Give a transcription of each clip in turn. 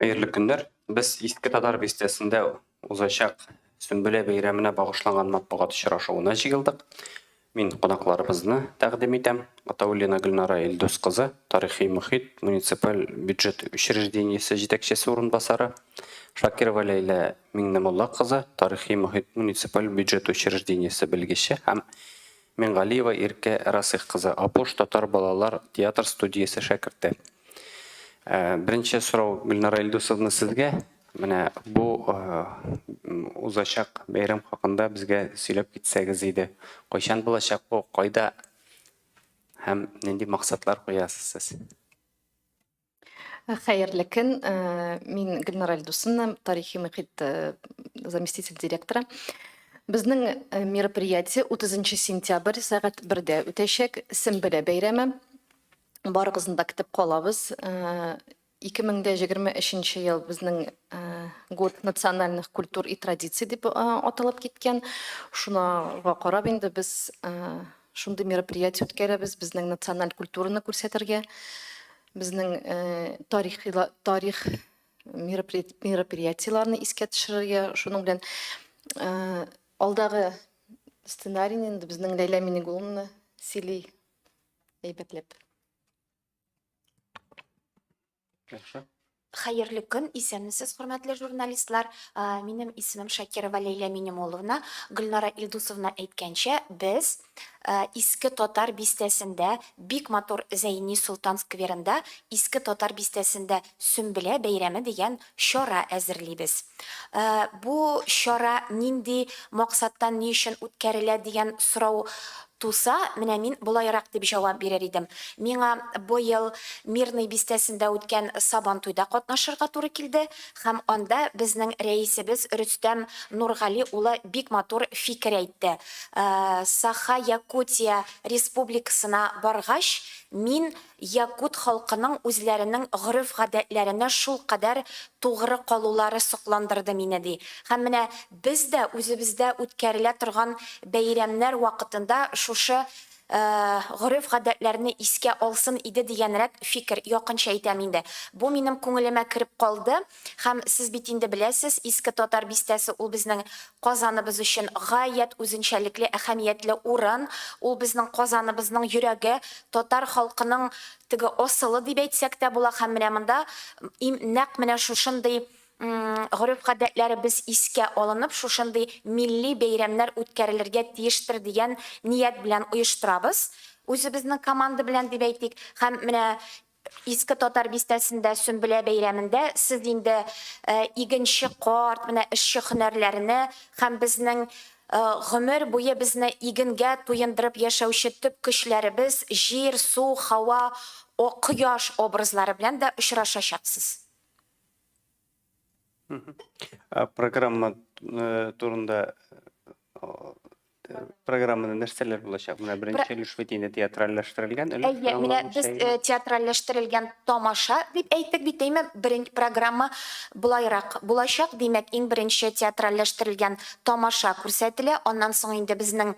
Хәерле көннәр. Без Иске Татар бистәсендә узачак Сөмбелә бәйрәменә багышланган матбугат очрашуына җыелдык. Мин кунакларыбызны тәкъдим итәм. Атауллина Гөлнара Илдус кызы, тарихи мөхит, муниципаль бюджет учреждениесе җитәкчесе урынбасары. Шакирова Ләйлә Миңнемулла кызы, тарихи мөхит, муниципаль бюджет учреждениесе белгече һәм Мингалиева Иркә Расыйх кызы, Апуш татар балалар театр студиясе шәкерте. Беренче сорау, Гөлнара Илдусовна, сезгә. Менә бу узачак бәйрәм хакында безгә сөйләп китсәгез иде. Кайчан булачак бу, кайда һәм нинди максатлар куясыз сез? Хәерле көн. Мин Гөлнара Ильдусовна, тарихи мөхит заместитель директоры. Безнең мероприятие 30 сентябрь сәгать бердә үтәчәк. Сембелә бәйрәме. Барыгызны да көтеп калабыз. 2023 ел безнең год национальных культур и традиций дип аталып киткән. Шуңа карап инде без Шундый мероприятие үткәрәбез, безнең националь культураны күрсәтергә, безнең тарих тарих мероприятиеләрне искә төшерергә, шуның белән алдагы сценарийны инде безнең Ләйлә Минигуловна сөйли әйбәтләп. Яхшы. Хәерле көн, исәнмесез, хөрмәтле журналистлар. Минем исемем Шакирова Ләйлә Минемуловна. Гөлнара Илдусовна әйткәнчә, без Иске Татар бистәсендә, бик матур Зәйни Солтан скверында, Иске Татар бистәсендә Сөмбелә бәйрәме дигән Чара әзерлибез. Бу чара нинди максаттан, ни өчен үткәрелә дигән сорау туса, менә мин болайрак дип җавап бирер идем. Миңа быел Мирный бистәсендә үткән Сабантуйда катнашырга туры килде һәм анда безнең рәисебез Рөстәм Нургали улы бик матур фикер әйтте. Саха-Якутия Республикасына баргач, мин Якут халкының үзләренең гореф-гадәтләренә шулкадәр тугры калулары сокландырды мине, ди һәм менә без дә үзебездә үткәрелә торган бәйрәмнәр вакытында шушы гореф-гадәтләрне искә алсын иде дигәнрәк фикер, якынча әйтәм инде. Бу минем күңелемә кереп калды. Һәм, сез бит инде беләсез, Иске Татар бистәсе ул безнең Казаныбыз өчен гаять үзенчәлекле, әһәмиятле урын, ул безнең Казаныбызның йөрәге, татар халкының теге асылы дип әйтсәк тә була һәм менә монда им нәкъ менә шушындый гореф-гадәтләребез искә алынып, шушындый милли бәйрәмнәр үткәрелергә тиештер дигән ният белән оештырабыз, үзебезнең команда белән дип әйтик, һәм менә Иске Татар бистәсендә Сөмбелә бәйрәмендә сез инде игенче карт, менә эшче һөнәрләренә һәм безнең гомер буе безне игенгә туендырып яшәүче төп көчләребез, җир, су, һава, о, кояш образлары белән дә очрашачаксыз. Ә программа э, турында э, программада нәрсәләр булачак? Менә беренче өлеш бит инде театральләштерелгән өлеш. Әйе, менә без э, театральләштерелгән тамаша дип әйттек бит, әйме? Беренче программа булайрак булачак, димәк, иң беренче театральләштерелгән тамаша күрсәтелә. Аннан соң инде безнең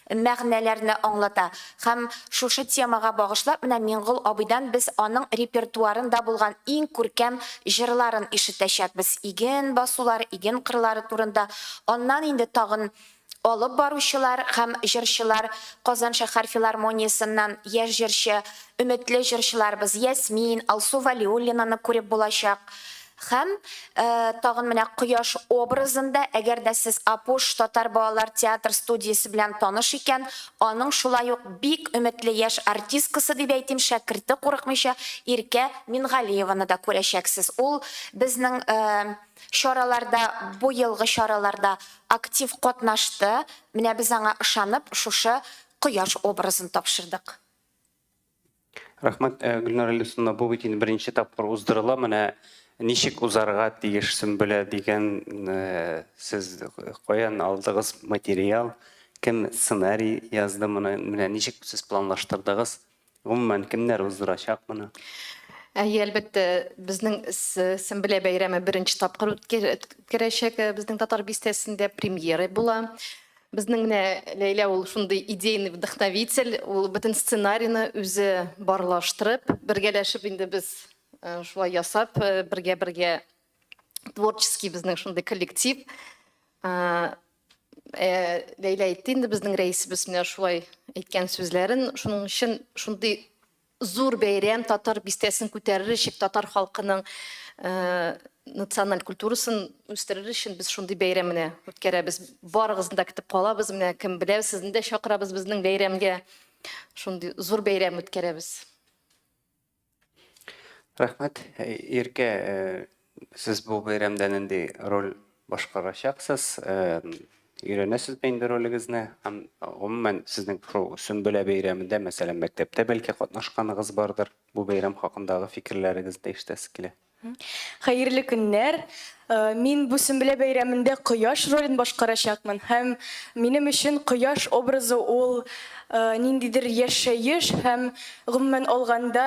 мәгънәләрне аңлата һәм шушы темага багышлап менә Миңгол абыйдан без аның репертуарын да булган иң күркәм җырларын ишетәчәкбез, иген басулар, иген кырлары турында, аннан инде тагын алып баручылар һәм җырчылар Казан шәһәр филармониясеннән яшь җырчы, өметле җырчыларыбыз Ясмин, Алсу Вәлиуллинаны күреп булачак. Һәм, тагын менә кояш образын да, әгәр дә сез Апуш татар балалар театр студиясе белән таныш икән, аның шулай ук бик өметле яшь артисткасы, дип әйтим, шәкерте курыкмыйча Иркә Мингалиеваны да күрәчәксез. Ул безнең чараларда, бу елгы чараларда актив катнашты. Менә без аңа ышанып шушы кояш образын тапшырдык. Рәхмәт, Гөлнара Илдусовна. Бу бит инде беренче тапкыр уздырыла. Менә ничек узарга тиеш Сөмбелә дигән сез каян алдыгыз материал, кем сценарий язды моны, менә ничек сез планлаштырдыгыз? Гомумән, кемнәр уздырачак моны? Әйе, әлбәттә, безнең Сөмбелә бәйрәме беренче тапкыр үткәрәчәк безнең Татар бистәсендә, премьера була. Безнең менә Ләйлә ул шундый идейный вдохновитель, ул бөтен сценарийны үзе барлаштырып, бергәләшеп инде без шулай ясап, бергә-бергә творческий безнең шундый коллектив. Ләйлә әйтте инде безнең рәисебез менә шулай әйткән сүзләрен, шуның өчен шундый Зур бәйрәм Татар бистәсен күтәрер өчен, татар халкының националь культурасын үстерер өчен без шундый бәйрәм менә үткәрәбез. Барыгызны да көтеп калабыз. Менә кем белә, сезне дә чакырабыз безнең бәйрәмгә. Шундый зур бәйрәм үткәрәбез. Рәхмәт. Иркә, Сез бу бәйрәмдә нинди роль башкарачаксыз? Өйрәнәсезме инде ролегезне? Һәм гомумән сезнең шул Сөмбелә бәйрәмендә, мәсәлән, мәктәптә бәлки катнашканыгыз бардыр, бу бәйрәм хакындагы фикерләрегезне ишетәсе килә. Хәерле көннәр! Мин бу Сөмбелә бәйрәмендә кояш ролен башкарачакмын һәм минем өчен кояш образы ул ниндидер яшәеш һәм гомумән алганда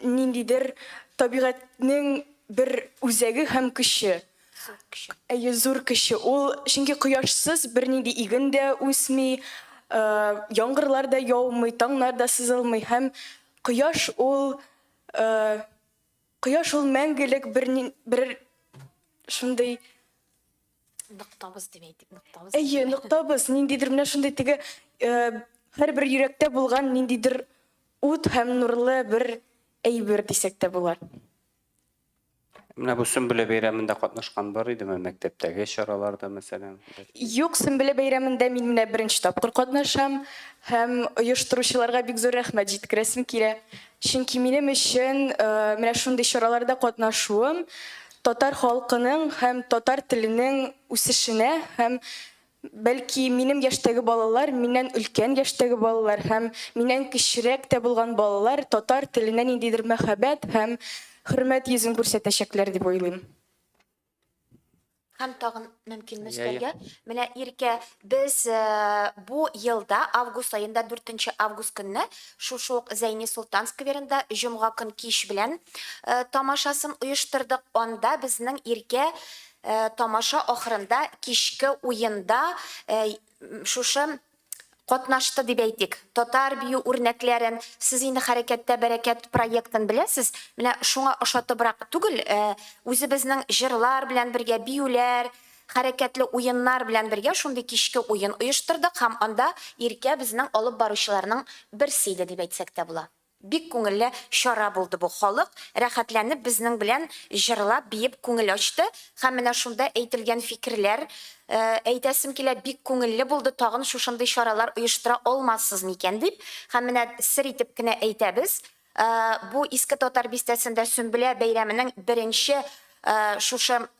Ниндидер табигатьнең бер үзәге һәм көче. Әйе, зур көче ул, чөнки кояшсыз бернинди иген дә үсми, яңгырлар да яумый, таңнар да сызылмый һәм кояш ул, кояш ул мәңгелек бер шундый. Ныктабыз дип әйтик, ныктабыз. Әйе, ныктабыз, ниндидер менә шундый теге һәрбер йөрәктә булган ниндидер ут һәм нурлы бер әйбер дисәк тә була. Менә бу Сөмбелә бәйрәмендә катнашкан бар идеме, мәктәптәге чараларда, мәсәлән? Юк, Сөмбелә бәйрәмендә мин менә беренче тапкыр катнашам һәм оештыручыларга бик зур рәхмәт җиткерәсем килә. Чөнки минем өчен менә шундый чараларда катнашуым Татар халкының һәм татар теленең үсешенә һәм, бәлки, минем яшьтәге балалар, миннән өлкән яшьтәге балалар һәм миннән кечерәк тә булган балалар татар теленә ниндидер мәхәббәт һәм хөрмәт йөзен күрсәтәчәкләр дип уйлыйм. Һәм тагын. мөмкин Мөстәргә. Менә Иркә, без э, бу елда август аенда 4 август көнне шушы ук Зәйни Солтан скверында җомга көн кич белән э, тамашасын оештырдык. Анда безнең Иркә э, тамаша ахырында кичке уенда э, шушы катнашты дип әйтик, татар бию үрнәкләрен, сез инде Хәрәкәттә бәрәкәт проектын беләсез, менә шуңа ошатыбрак түгел, үзебезнең җырлар белән бергә биюләр, хәрәкәтле уеннар белән бергә шундый кичке уен оештырдык һәм анда Иркә безнең алып баручыларның берсе иде дип әйтсәк тә була. Бик күңелле чара булды бу, халык рәхәтләнеп безнең белән җырлап, биеп күңел ачты һәм менә шунда әйтелгән фикерләр әйтәсем килә, бик күңелле булды, тагын шушындый чаралар оештыра алмассыз микән дип, һәм менә сер итеп кенә әйтәбез, бу Иске Татар бистәсендә Сөмбелә бәйрәменең беренче шушы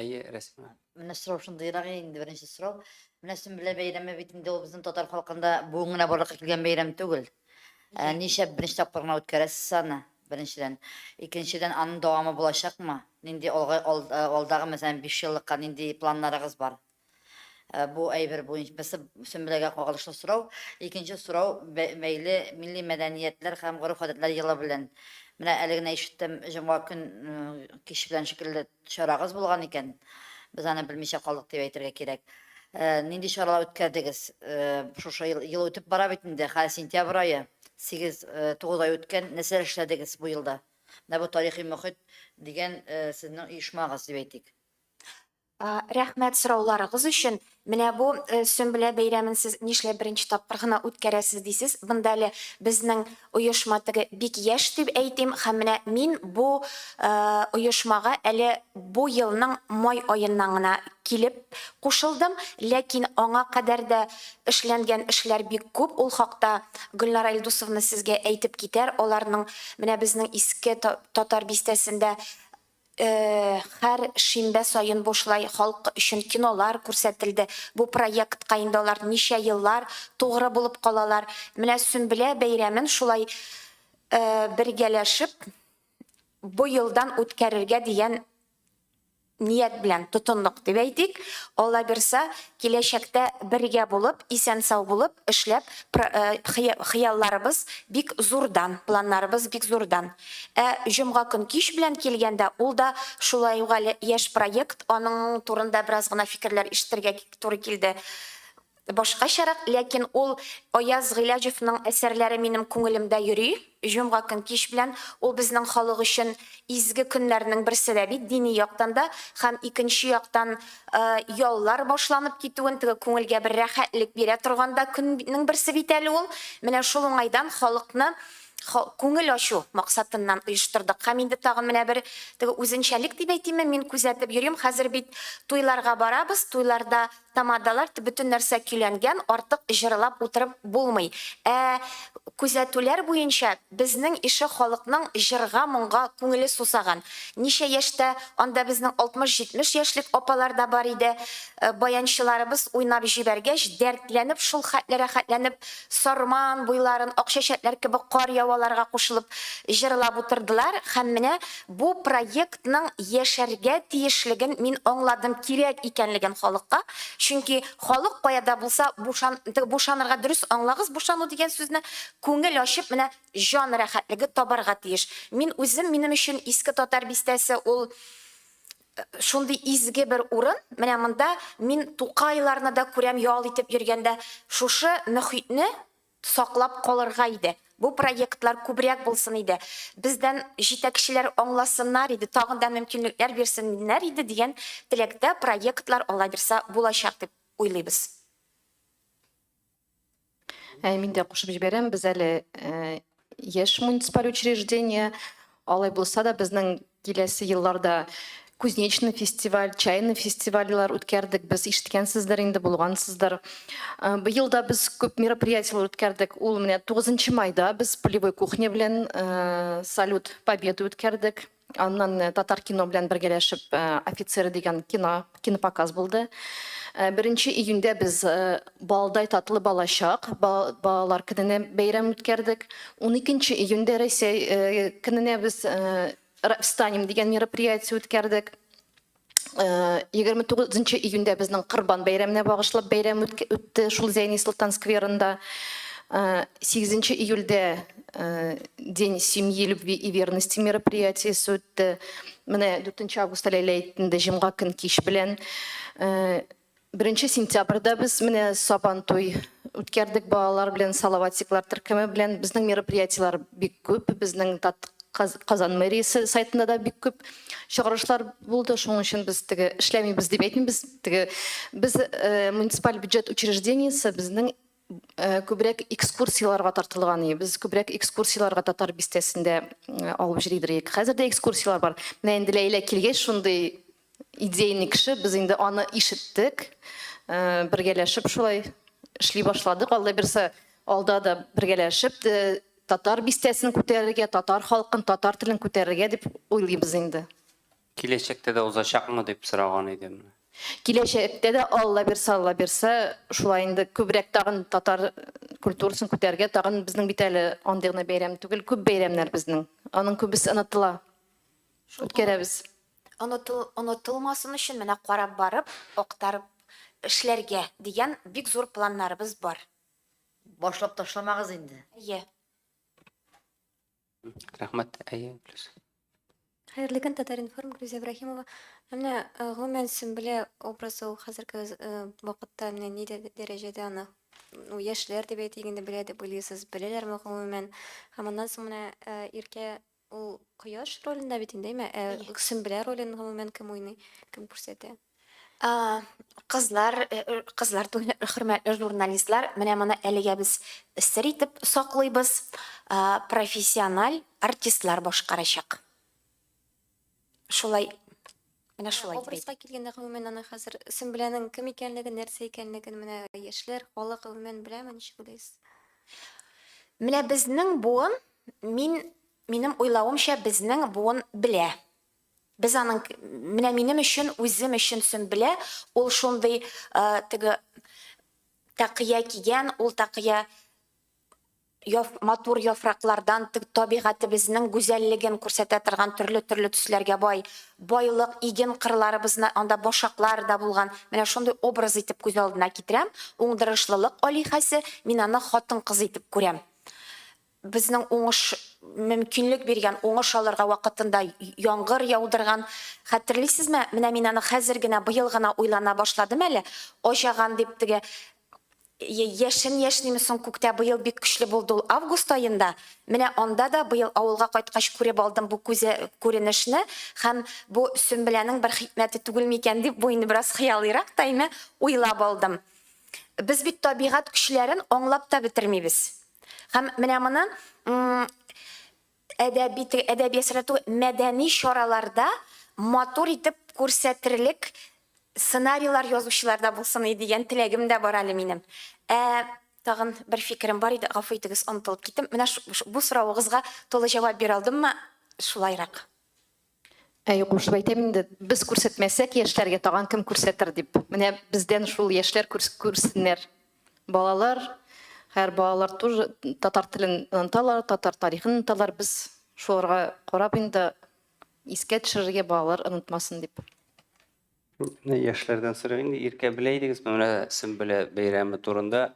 Әйе, Рәсимә. Менә сорау шундыйрак инде беренче сорау. Менә Сөмбелә бәйрәме бит инде ул безнең татар халкында бүген генә барлыкка килгән бәйрәм түгел. Ә, ничә беренче тапкыр гына үткәрәсез аны? Беренчедән. Икенчедән, аның дәвамы булачакмы? Нинди алга, ал, алдагы, мәсәлән, биш еллыкка нинди планнарыгыз бар? Бу әйбер буенча берсе Сөмбеләгә кагылышлы сорау, икенче сорау бәйле милли мәдәниятләр һәм гореф-гадәтләр елы белән. Менә әле генә ишеттем, җомга көн кич белән шикелле чарагыз булган икән. Без аны белмичә калдык дип әйтергә кирәк. Нинди чаралар үткәрдегез? Шушы ел, ел үтеп бара бит инде, хәзер сентябрь ае, сигез, тугыз ай үткән, нәрсәләр эшләдегез бу елда? Менә бу Тарихи мохит дигән сезнең оешмагыз дип әйтик. Рәхмәт сорауларыгыз өчен. Менә бу Сөмбелә бәйрәмен сез нишләп беренче тапкыр гына үткәрәсез дисез. Монда әле безнең оешма теге бик яшь дип әйтим һәм менә мин бу оешмага әле бу елның май аеннан гына килеп кушылдым. Ләкин аңа кадәр дә эшләнгән эшләр бик күп, ул хакта Гөлнара Илдусовна сезгә әйтеп китәр. Аларның менә безнең Иске Татар бистәсендә Һәр шимбә саен бушлай халык өчен кинолар күрсәтелде. Бу проектка инде алар ничә еллар тугры булып калалар. Менә Сөмбелә бәйрәмен шулай бергәләшеп быелдан үткәрергә дигән ният белән тотындык дип әйтик. Аллабирса, киләчәктә бергә булып, исән-сау булып, эшләп, хыялларыбыз бик зурдан, планнарыбыз бик зурдан. Ә җомга көн кич белән килгәндә, ул да шулай ук әле яшь проект, аның турында бераз гына фикерләр ишетергә туры килде. Башкачарак, ләкин ул Аяз Гыйләҗевның әсәрләре минем күңелемдә йөри. Җомга көн кич белән, ул безнең халык өчен изге көннәрнең берсе дә бит, дини яктан да һәм икенче яктан яллар башланып китүен, теге күңелгә бер рәхәтлек бирә торган да көннең берсе бит әле ул. Менә шул уңайдан халыкны күңел ачу максатыннан оештырдык. Һәм инде тагын менә бер теге үзенчәлек дип әйтимме, мин күзәтеп йөрим, хәзер бит туйларга барабыз, туйларда Тамадалар бөтен нәрсә көйләнгән, артык җырлап утырып булмый. Ә күзәтүләр буенча, безнең ише халыкның җырга, моңга күңеле сусаган. Ничә яшьтә анда безнең 60-70 яшьлек апалар да бар иде. Баянчыларыбыз уйнап җибәргәч, дәртләнеп, шул хәтле рәхәтләнеп, Сарман буйларын ак чәчәкләр кебек кар яваларга кушылып җырлап утырдылар. Һәм менә бу проект. халыкның яшәргә тиешлеген мин аңладым, кирәк икәнлеген халыкка. Чөнки халык кая да булса бушан, бушанырга, дөрес аңлагыз бушану дигән сүзне, күңел ачып менә җан рәхәтлеге табарга тиеш. Мин үзем, минем өчен Иске Татар бистәсе ул шундый изге бер урын, менә монда мин Тукайларны да күрәм ял итеп йөргәндә, шушы мөхитне Саклап калырга иде. Бу проектлар күбрәк булсын иде. Бездән җитәкчеләр аңласыннар иде, тагын да мөмкинлекләр бирсеннәр иде дигән теләктә проектлар аллабирса булачак дип уйлыйбыз. Мин дә кушып җибәрәм, без әле яшь муниципаль учреждение. Алай булса да, безнең киләсе елларда Кузнечный фестиваль, Чайный фестивальләр үткәрдек без, ишеткәнсездер инде, булгансыздыр. Быел да без күп мероприятиеләр үткәрдек. Ул менә 9 майда без Полевой кухня белән Салют Победы үткәрдек. Аннан Татаркино белән бергәләшеп Офицеры дигән кино Кинопоказ булды. Беренче июньдә без Балдай татлы балачак балалар көненә бәйрәм үткәрдек. Уникенче июньдә Россия көненә без Встанем дигән мероприятие үткәрдек. Егерме тугызынчы июньдә безнең Корбан бәйрәменә багышлап бәйрәм үтте шул Зәйни Солтан скверында. Сигезенче июльдә День семьи, любви и верности мероприятиесе үтте. Менә 4 августта Ләйлә әйтте инде, җомга көн кич белән. 1 сентябрьдә без менә Сабан туй үткәрдек балалар белән, Салаватиклар төркеме белән. Безнең мероприятиеләр бик күп. Безнең Казан мэриясе сайтында да бик күп чыгарышлар булды. Шуның өчен без теге эшләмибез дип әйтмибез. Теге без муниципаль бюджет учреждениесе безнең Күбрәк экскурсияләргә тартылган иде. Без күбрәк экскурсияләргә Татар бистәсендә алып йөри идек. Хәзер дә экскурсияләр бар. Менә инде Ләйлә килгәч, шундый идейный кеше, без инде аны ишеттек. Бергәләшеп шулай эшли башладык. Алла бирса, алда да бергәләшеп Татар бистәсен күтәрергә, татар халкын, татар телен күтәрергә дип уйлыйбыз инде. Киләчәктә дә узачакмы дип сораган идем. Киләчәктә дә Алла бирсә, Алла бирсә, шулай инде күбрәк тагын татар культурасын күтәрергә, тагын безнең бит әле андый гына бәйрәм түгел, күп бәйрәмнәр безнең. Аның күбесе онытыла. Үткәрәбез. Онытылмасын өчен менә карап барып, актарып эшләргә дигән бик зур планнарыбыз бар. Башлап ташламагыз инде. Әйе. Рәхмәт, әйе, плюс. Хәерле көн, Татаринформ, Гүзә Ибраһимова. Менә э, гомумән Сөмбелә образы ул хәзерге э, вакытта менә ни дәрәҗәдә аны ну, яшьләр дип әйтик инде белә дип уйлыйсыз, беләләрме гомумән? Һәм аннан соң менә э, Иркә ул кояш ролендә бит инде, әйме? Ә Сөмбелә ролен гомумән кем уйный, кем күрсәтә? Кызлар, кызлар түгел, хөрмәтле журналистлар, менә моны әлегә без сер итеп саклыйбыз. Профессиональ артистлар башкарачак. Шулай, менә шулай дип әйтәм. Образга килгәндә, гомумән, аны хәзер Сөмбеләнең кем икәнлеген, нәрсә икәнлеген менә яшьләр, халык гомумән беләме, ничек уйлыйсыз? Менә безнең буын, мин, минем уйлавымча, безнең буын белә. Без аның менә минем өчен үзем өчен Сөмбелә ул шундый теге такыя кигән, ул такыя матур яфраклардан табигатебезнең гүзәллеген күрсәтә торган төрле-төрле төсләргә бай байлык, иген кырларыбызны анда башаклар да булган, менә шундый образ итеп күз алдына китерәм, уңдырышлылык алиһәсе, мин аны хатын-кыз итеп күрәм. Безнең уңыш мөмкинлек биргән, уңыш алырга вакытында яңгыр яудырган. Хәтерлисезме, менә мин аны хәзер генә, быел гына уйлана башладым әле, аҗаган дип теге яшен яшниме соң күктә, быел бик көчле булды ул август аенда, менә анда да быел авылга кайткач күреп алдым бу күзе күренешне һәм бу Сөмбеләнең бер хикмәте түгел микән дип, бу инде бераз хыялыйрак та име, уйлап алдым. Без бит табигать көчләрен аңлап та бетермибез. Һәм менә моны әдәби әдәби әсәрдә мәдәни чараларда матур итеп күрсәтерлек сценарийлар язучыларда булсын иде дигән теләгем дә бар әле минем. Ә тагын бер фикерем бар иде, гафу итегез, онытылып киттем. Менә бу соравыгызга тулы җавап бирә алдыммы? Шулайрак. Әй, кушып әйтәм инде, без күрсәтмәсәк яшьләргә тагын кем күрсәтер дип. Менә бездән шул яшьләр күрсеннәр. Балалар, хәер балалар тоже татар телен оныталар, татар тарихын оныталар. Без шуларга карап инде искә төшерергә балалар онытмасын дип. Яшьләрдән сорыйм инде, иркә белә идегезме менә Сөмбелә бәйрәме турында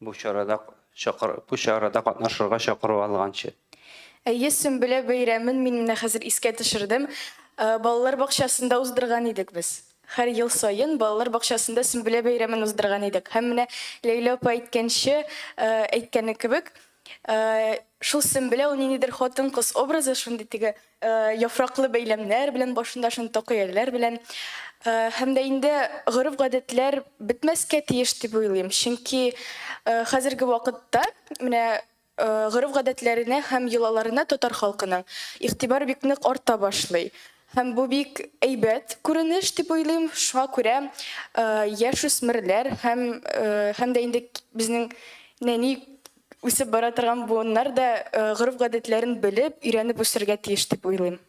бу чарада чакыр, бу чарада катнашырга чакыру алганчы? Әйе, Сөмбелә бәйрәмен мин менә хәзер искә төшердем. Балалар бакчасында уздырган идек без. Һәр ел саен балалар бакчасында Сөмбелә бәйрәмен уздырган идек. Һәм менә Ләйлә апа әйткәнче, әйткәне кебек, Шул Сөмбеләү ниндидер хатын-кыз образы, шундый теге яфраклы бәйләмнәр белән, башында шундый токыяләр белән. Һәм дә инде гореф-гадәтләр бетмәскә тиеш дип уйлыйм. Чөнки хәзерге вакытта менә гореф-гадәтләренә һәм йолаларына татар халкының игътибар бик нык арта башлый. Һәм бу бик әйбәт күренеш дип уйлыйм. Шуңа күрә яшүсмерләр һәм һәм дә инде безнең нәни үсеп бара торган буыннар да гореф-гадәтләрен белеп, өйрәнеп үсергә тиеш дип уйлыйм.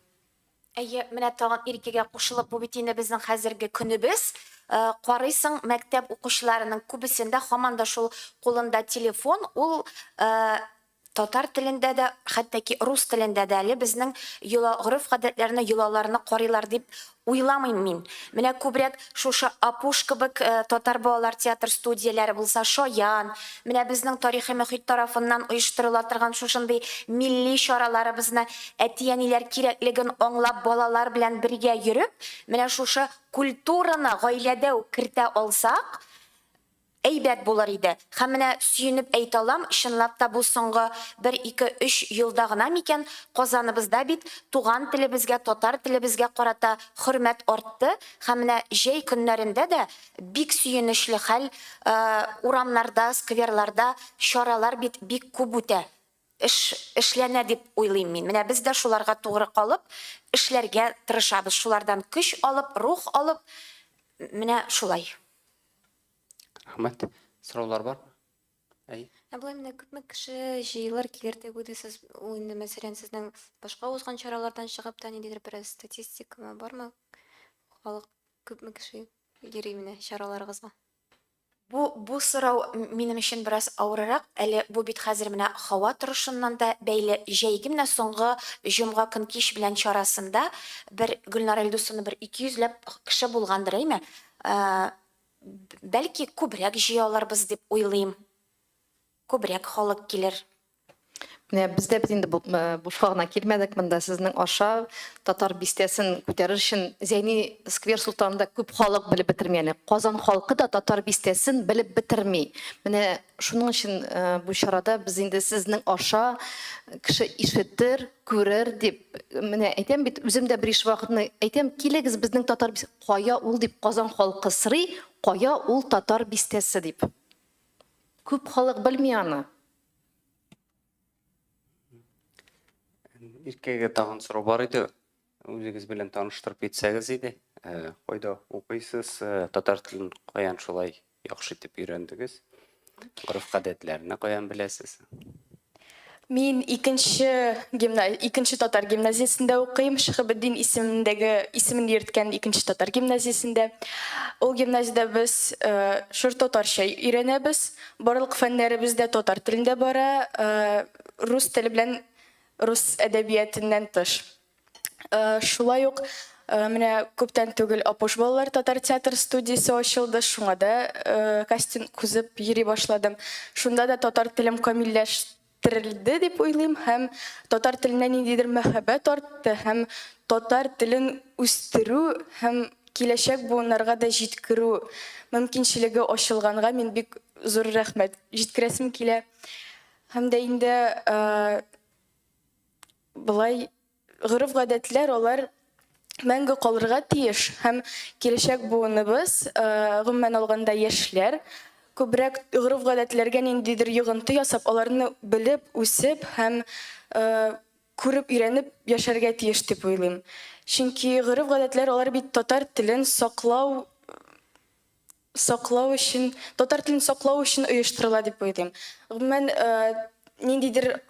Әйе, менә тагын Иркәгә кушылып, бу бит инде безнең хәзерге көнебез. Карыйсың, мәктәп укучыларының күбесендә һаман да шул кулында телефон, ул Татар телендә дә, хәтта ки рус телендә дә әле безнең йола, гореф-гадәтләрне, йолаларны карыйлар дип уйламыйм мин. Менә күбрәк шушы Апуш кебек татар балалар театр студияләре булса, Шаян, менә безнең тарихи мөхит тарафыннан оештырыла торган шушындый милли чараларыбызны әти-әниләр кирәклеген аңлап балалар белән бергә йөреп, менә шушы культураны гаиләдә үк кертә алсак, Әйбәт булыр иде. Һәм менә, сөенеп әйтә алам, чынлап та бу соңгы бер, ике, өч елда гына микән, Казаныбызда бит туган телебезгә, татар телебезгә карата хөрмәт артты, һәм менә җәй көннәрендә дә бик сөенечле хәл, урамнарда, скверларда чаралар бит бик күп үтә, эш эшләнә дип уйлыйм мин. Менә без дә шуларга тугры калып, эшләргә тырышабыз, шулардан көч алып, рух алып, менә шулай. Рәхмәт. Сораулар бар? Әй. Ә болай менә күпме кеше җыелыр, килер дип уйлыйсыз? Ул инде мәсәлән сезнең башка узган чаралардан чыгып та ниндидер бер статистикамы бармы? Халык күпме кеше йөри менә чараларыгызга? Бу бу сорау минем өчен бераз авырырак. Әле бу бит хәзер менә һава торышыннан да бәйле. Җәйге менә соңгы җомга көн кич белән чарасында бер Гөлнара Илдусовна бер 200 ләп кеше булгандыр, әйме? Бәлки күбрәк җыя алырбыз дип уйлыйм. Күбрәк халык килер. Менә без дә бит инде бушка гына килмәдек монда, сезнең аша Татар бистәсен күтәрер өчен Зәйни сквер Солтанында күп халык белеп бетерми әле. Казан халкы да Татар бистәсен белеп бетерми. Менә шуның өчен бу чарада без инде сезнең аша кеше ишетер, күрер дип менә әйтәм бит, үзем дә бериш вакытны әйтәм, килегез безнең Татар бистәсен. Кая ул дип Казан халкы срый, кая ул Татар бистәсе дип. Күп халык белми аны. Иркәгә тагын сорау бар иде. Үзегез белән таныштырып итсәгез иде. Кайда укыйсыз, татар телен каян шулай Яхшы итеп өйрәндегез. Гореф-гадәтләрне каян беләсез? Мин икенче гимна... икенче татар гимназиясендә укыйм, Шихабетдин исемендәге исемен йөрткән икенче татар гимназиясендә. Ул гимназиядә без э, шур татарча өйрәнәбез. Барлык фәннәребез дә татар телендә бара, э, рус теле белән рус әдәбиятыннан тыш. Э, шулай ук э, менә күптән түгел Апош балалар татар театр студиясе ачылды. Шуңа да э, кастинг күзеп йөри башладым. Шунда да татар телем камилләштерелде дип уйлыйм һәм татар теленә ниндидер мәхәббәт артты һәм татар телен үстерү һәм киләчәк буыннарга да җиткерү мөмкинчелеге ачылганга мин бик зур рәхмәт җиткерәсем килә. Һәм дә инде Болай гореф-гадәтләр, алар мәңге калырга тиеш һәм киләчәк буыныбыз, гомумән алганда яшьләр, күбрәк гореф-гадәтләргә ниндидер йогынты ясап, аларны белеп, үсеп һәм күреп, өйрәнеп яшәргә тиеш дип уйлыйм. Чөнки гореф-гадәтләр, алар бит татар телен саклау Саклау өчен, татар телен саклау өчен оештырыла дип уйлыйм. Гомумән, ниндидер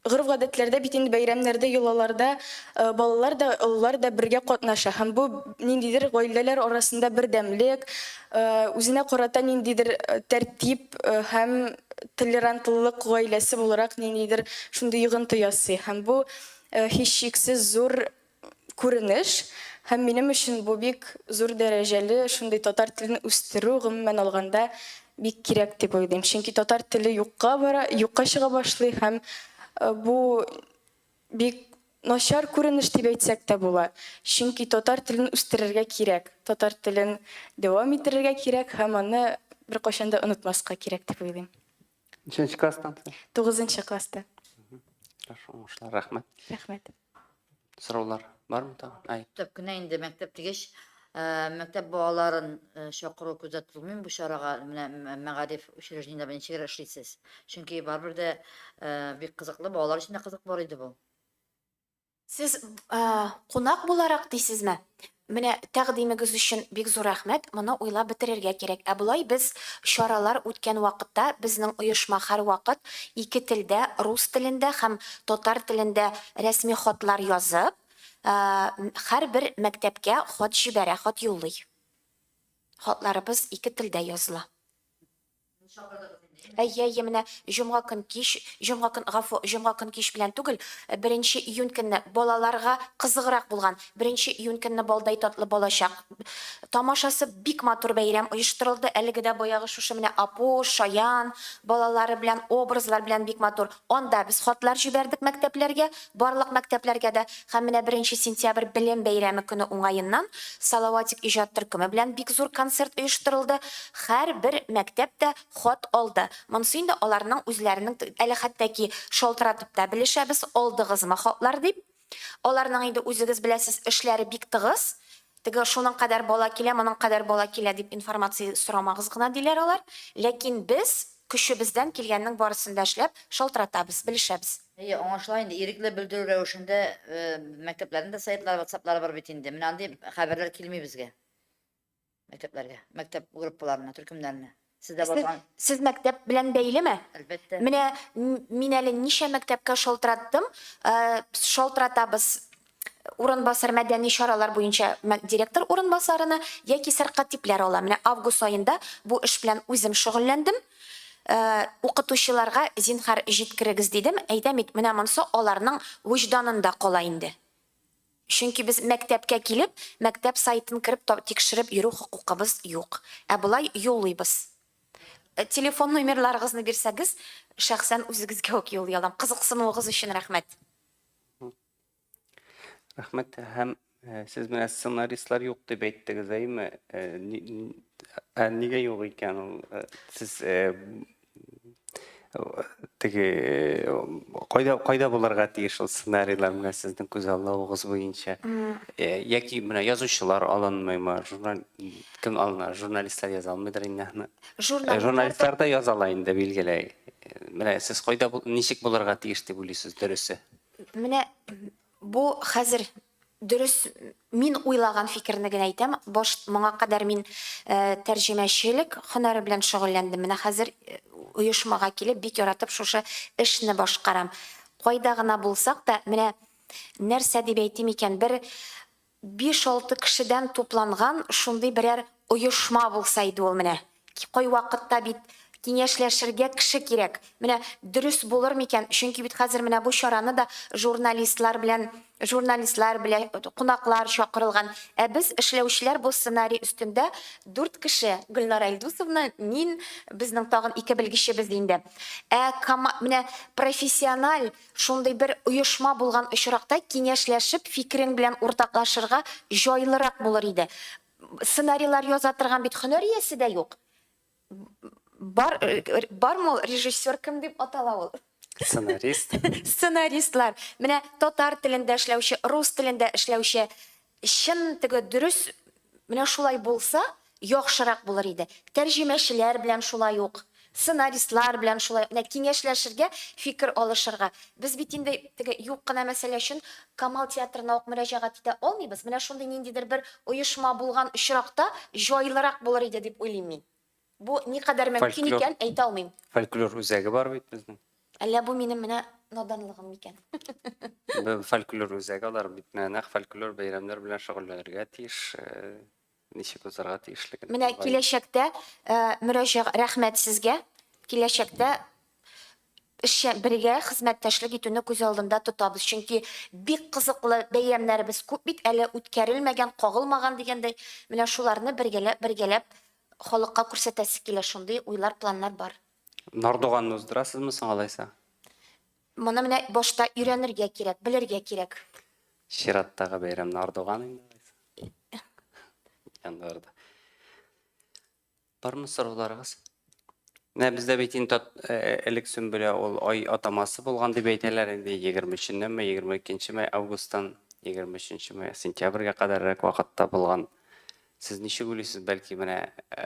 гореф-гадәтләрдә бит инде бәйрәмнәрдә, йолаларда балалар да, олылар да бергә катнаша һәм бу ниндидер гаиләләр арасында бердәмлек, үзенә карата ниндидер тәртип һәм толерантлылык гаиләсе буларак ниндидер шундый йогынты ясый һәм бу һичшиксез зур күренеш, һәм минем өчен бу бик зур дәрәҗәле шундый татар телен үстерү, гомумән алганда, бик кирәк дип уйлыйм. Чөнки татар теле юкка бара, юкка чыга башлый һәм бу бик начар күренеш дип әйтсәк тә була. Чөнки татар телен үстерергә кирәк, татар телен дәвам иттерергә кирәк һәм аны беркайчан да онытмаска кирәк дип уйлыйм. Ничәнче класстан? Тугызынчы класста. Хорошо, уңышлар, рәхмәт. Рәхмәт. Сораулар бармы тагын? Ай. Төп кенә инде мәктәп дигәч, э, мәктәп балаларын э, чакыру күздә тотылмыймы бу чарага? Менә м- мәгариф учреждениеләрендә ничегрәк эшлисез? Чөнки барыбер дә э, бик кызыклы, балалар өчен дә кызык бар иде бу. Сез кунак буларак дисезме? Менә тәкъдимегез өчен бик зур рәхмәт, моны уйлап бетерергә кирәк. Ә болай без чаралар үткән вакытта безнең оешма һәрвакыт ике телдә, рус телендә һәм татар телендә рәсми хатлар язып, һәрбер мәктәпкә хат җибәрә, хат юллый. Хатларыбыз ике телдә языла. Әйе, әйе, менә җомга көн кич, җомга көн, гафу, җомга көн кич белән түгел, э, беренче июнь көнне балаларга кызыграк булган. Беренче июнь көнне балдай татлы балачак тамашасы бик матур бәйрәм оештырылды. Әлеге дә баягы шушы менә Апуш, Шаян балалары белән, образлар белән бик матур. Анда без хатлар җибәрдек мәктәпләргә, барлык мәктәпләргә дә, һәм менә беренче сентябрь белем бәйрәме көне уңаеннан Салаватик иҗат төркеме белән бик зур концерт оештырылды, һәрбер мәктәп тә хат алды, монсы инде аларның үзләренең, әле хәтта ки шалтыратып та белешәбез, алдыгызмы хатлар дип. Аларның инде үзегез беләсез эшләре бик тыгыз, теге шуның кадәр бала килә, моның кадәр бала килә дип информация сорамагыз гына диләр алар, ләкин без көчебездән килгәннең барысын да эшләп, шалтыратабыз, белешәбез. Әйе, аңлашыла инде, ирекле белдерү рәвешендә мәктәпләрнең дә сайтлары, ватсаплары бар бит инде, менә андый хәбәрләр килми безгә. Мәктәпләргә, мәктәп группаларына, төркемнәренә. Сездә бар торган... Сез мәктәп белән бәйлеме? Әлбәттә. Менә мин әле ничә мәктәпкә шалтыраттым, шалтыратабыз урынбасар мәдәни чаралар буенча директор урынбасарына яки сәркат типләр ала. Менә август аенда бу эш белән үзем шөгыльләндем. Укытучыларга зинхар җиткерегез дидем, әйтәм бит, менә монсы аларның вөҗданында кала инде. Чөнки без мәктәпкә килеп, мәктәп сайтын кереп та тикшереп йөрү хокукыбыз юк. Ә болай юллыйбыз. Телефон номерларыгызны бирсәгез, шәхсән үзегезгә үк юллый алам. Кызыксынуыгыз өчен рәхмәт. Рәхмәт. Һәм сез менә сценаристлар юк дип әйттегез, әйеме? Ә нигә юк икән ул? Сез теге кайда кайда булырга тиеш ул сценарийлар менә сезнең күзаллавыгыз буенча яки менә язучылар алынмыймы журнал кем алына журналистлар яза алмыйдыр инде аны журналистлар да яза ала инде билгеле менә сез кайда ничек булырга тиеш дип уйлыйсыз дөресе менә бу хәзер Дөрес, мин уйлаган фикерне генә әйтәм, баш, моңа кадәр мин тәрҗемәчелек һөнәре белән шөгыльләндем, менә хәзер оешмага килеп, бик яратып шушы эшне башкарам. Кайда гына булсак та, менә нәрсә дип әйтим икән, бер биш-алты кешедән тупланган шундый берәр оешма булса иде ул, менә, Кайвакытта бит киңәшләшергә кеше кирәк. Менә дөрес булыр микән? Чөнки бит хәзер менә бу чараны да журналистлар белән, журналистлар белә, кунаклар чакырылган. Ә без, эшләүчеләр бу сценарий өстендә дүрт кеше, Гөлнара Илдусовна, мин, безнең тагын ике белгечебез инде. Ә кома, менә профессиональ шундый бер оешма булган очракта киңәшләшеп фикерең белән уртаклашырга җайлырак булыр иде. Сценарийлар яза торган бит хөнәр иясе дә юк. Бар, бар мол режиссер кем дип атала ул? Сценарист. Сценаристлар. Менә татар телендә эшләүче, рус телендә эшләүче чын теге дөрес менә шулай булса, яхшырак булыр иде. Тәрҗемәчеләр белән шулай ук. Сценаристлар белән шулай ук нәкъ киңәшләшергә, фикер алышырга. Без бит инде теге юк кына мәсьәлә өчен Камал театрына ук мөрәҗәгать итә алмыйбыз. Менә шундый ниндидер бер оешма булган очракта җайлырак булыр иде дип уйлыйм мин. Бу никадәр мөмкин икән, әйтә алмыйм. Фольклор үзәге бар бит безнең. Әллә бу минем менә наданлыгым микән? Бу фольклор үзәге, алар бит менә нәкъ фольклор бәйрәмнәр белән шөгыльләнергә тиеш. Ничек узарга тиешлеген. Менә киләчәктә мөрәҗәгать рәхмәт сезгә. Киләчәктә эшчән бергә хезмәттәшлек итүне күз алдында тотабыз. Чөнки бик кызыклы бәйрәмнәребез күп бит, әле үткәрелмәгән, кагылмаган дигәндәй. Менә шуларны бергәләп, бергәләп халыкка күрсәтәсе килә, шундый уйлар, планнар бар. Нардуганны уздырасызмы соң алайса? Моны менә башта өйрәнергә кирәк, белергә кирәк. Чираттагы бәйрәм Нардуган инде. Яндарда. Бармы сорауларыгыз? Менә бездә бит инде э, э, элек Сөмбелә ул ай атамасы булган дип әйтәләр инде 23-неме, 22-ме августтан 23-ме сентябрьгә кадәррәк вакытта булган. Сез ничек уйлыйсыз, бәлки менә э,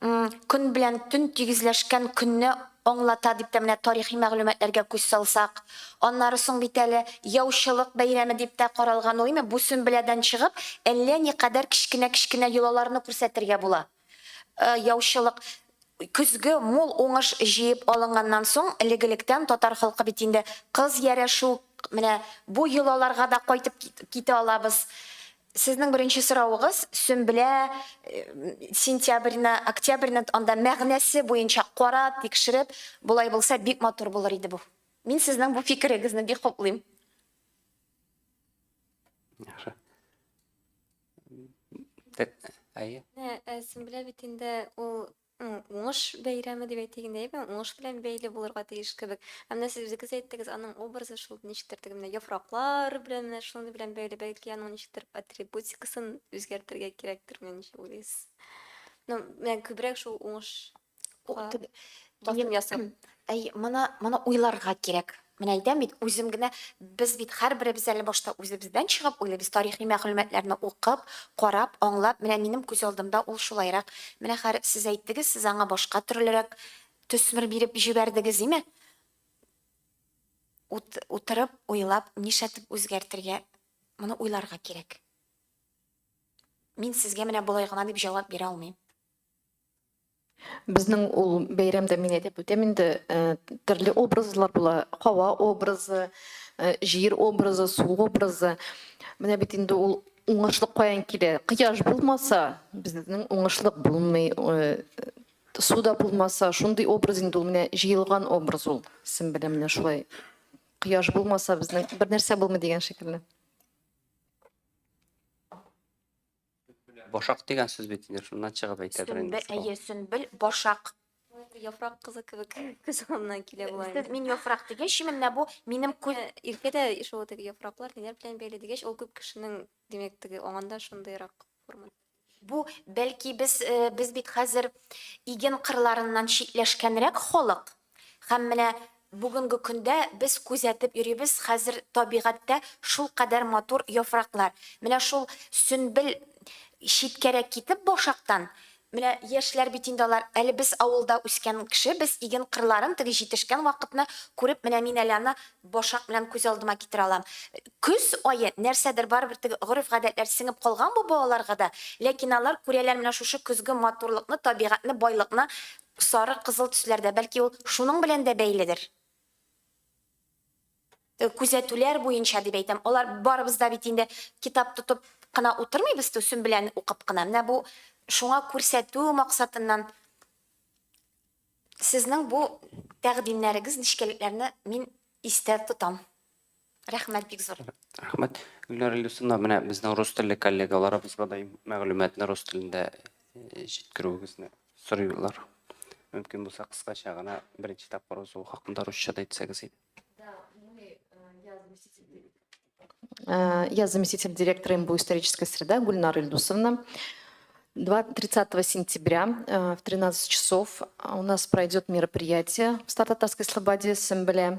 М, көн белән төн тигезләшкән көнне аңлата, дип тә менә тарихи мәгълүматларга күз салсак. Аннары соң бит әле яучылык бәйрәме дип тә каралган уймы, бу сөмбеләдән чыгып, әллә никадәр кечкенә-кечкенә йолаларны күрсәтергә була. Ы, яучылык. Көзге мул уңыш җыеп алынганнан соң, элек-электән татар халкы бит инде кыз ярәшү, менә бу йолаларга да кайтып кит, китә алабыз. Сезнең беренче соравыгыз, Сөмбелә сентябрьне, октябрьне анда мәгънәсе буенча карап, тикшереп, болай булса бик матур булыр иде бу. Мин сезнең бу фикерегезне бик хуплыйм. Яхшы. Әйе. Ә, Сөмбелә бит инде ул М, Уңыш бәйрәме дип әйтик инде, әйеме? Уңыш белән бәйле булырга тиеш кебек. Ә менә сез үзегез әйттегез, аның образы шул ничектер теге менә яфраклар белән менә шуның белән бәйле. Бәлки аның ничектер атрибутикасын үзгәртергә кирәктер, менә ничек уйлыйсыз? Ну, менә күбрәк шул уңыш О, теге- басым ясап. Әй, моны, моны уйларга кирәк. Менә әйтәм бит, үзем генә, без бит һәрберебез әле башта үзебездән чыгып уйлыйбыз, тарихи мәгълүматларны укып, карап, аңлап, менә минем күз алдымда ул шулайрак. Менә хәер, сез әйттегез, сез аңа башка төрлерәк төсмер биреп җибәрдегез, име? Ут, утырып, уйлап, нишләтеп үзгәртергә, моны уйларга кирәк. Мин сезгә менә болай гына дип җавап бирә алмыйм. Безнең ул бәйрәмдә мин әйтеп үтәм инде, төрле образлар була. Һава образы, җир образы, су образы. Менә бит инде ул уңышлык каян килә? Кояш булмаса, безнең уңышлык булмый. Су да булмаса, шундый образ инде ул, менә җыелган образ ул. Син белән менә шулай. Кояш булмаса, безнең бернәрсә булмый дигән шикелле. Башак дигән сүз бит инде, шуннан чыгып әйтәдер инде. Сөмбел, әйе, сөмбел, башак. Яфрак кызы кебек күз алдына килә була. Сез мин яфрак дигәч, менә бу минем күз Иркә дә шул теге яфраклар ниләр белән бәйле дигәч, ул күп кешенең, димәк, теге аңында шундыйрак форма. Бу бәлки без э, без бит хәзер иген кырларыннан читләшкәнрәк халык. Һәм менә бүгенге көндә без күзәтеп йөрибез, хәзер табигатьтә шулкадәр матур яфраклар. Менә шул сөнбел читкәрәк китеп башактан, менә яшьләр бит инде алар, әле без авылда үскән кеше, без иген кырларын, теге җитешкән вакытны күреп, менә мин әле аны башак белән күз алдыма китерә алам. Көз ае, нәрсәдер, барыбер теге гореф-гадәтләр сеңеп калган бу балаларга да, ләкин алар күрәләр менә шушы көзге матурлыкны, табигатьне, байлыкны, Сары, кызыл төсләрдә, бәлки ул шуның белән дә бәйледер. Күзәтүләр буенча дип әйтәм, алар барыбыз да бит инде китап тотып кына утырмыйбыз, төсен белән укып кына. Менә бу шуңа күрсәтү максатыннан сезнең бу тәкъдимнәрегез, нечкәлекләрне мин истә тотам. Рәхмәт бик зур. Рәхмәт. Гөлнара Илдусовна, менә безнең рус телле коллегаларыбызга да мәгълүматны рус телендә э, җиткерүегезне сорыйлар. Мөмкин булса кыскача гына беренче тапкыр узу хакында русча да әйтсәгез иде. Э, я заместитель директора МБУ «Историческая среда» Гульнара Ильдусовна. 30 сентября э, в 13 часов у нас пройдет мероприятие в Стартатарской Слободе, Сэмбле.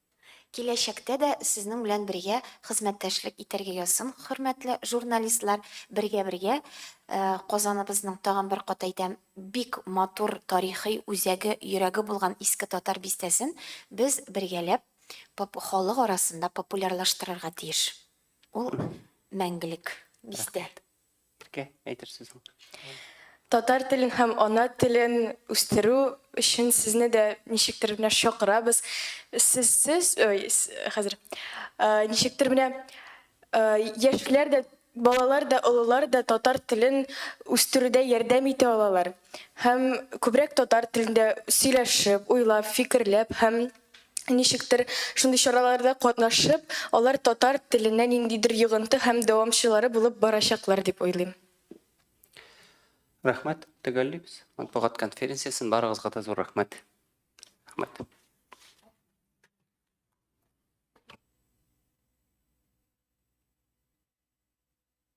Киләчәктә дә сезнең белән бергә хезмәттәшлек итәргә язсын, хөрмәтле журналистлар, бергә-бергә Казаныбызның, тагын бер кат әйтәм, бик матур тарихи үзәге, йөрәге булган Иске Татар бистәсен без бергәләп халык арасында популярлаштырырга тиеш. Ул мәңгелек бистә. Иркә, әйтер сүзең. Татар телен һәм ана телен үстерү өчен сезне дә ничектер менә чакырабыз. Сез сез, ой, хәзер. Ничектер менә яшьләр дә балалар да, олылар да татар телен үстерүдә ярдәм итә алалар. Һәм күбрәк татар телендә сөйләшеп, уйлап, фикерләп һәм Ничектер, шундый чараларда катнашып, алар татар теленә ниндидер йогынты һәм дәвамчылары булып барачаклар дип уйлыйм. Рәхмәт, төгәллибез. Матбугат конференциясен барыгызга да зур рәхмәт. Рәхмәт.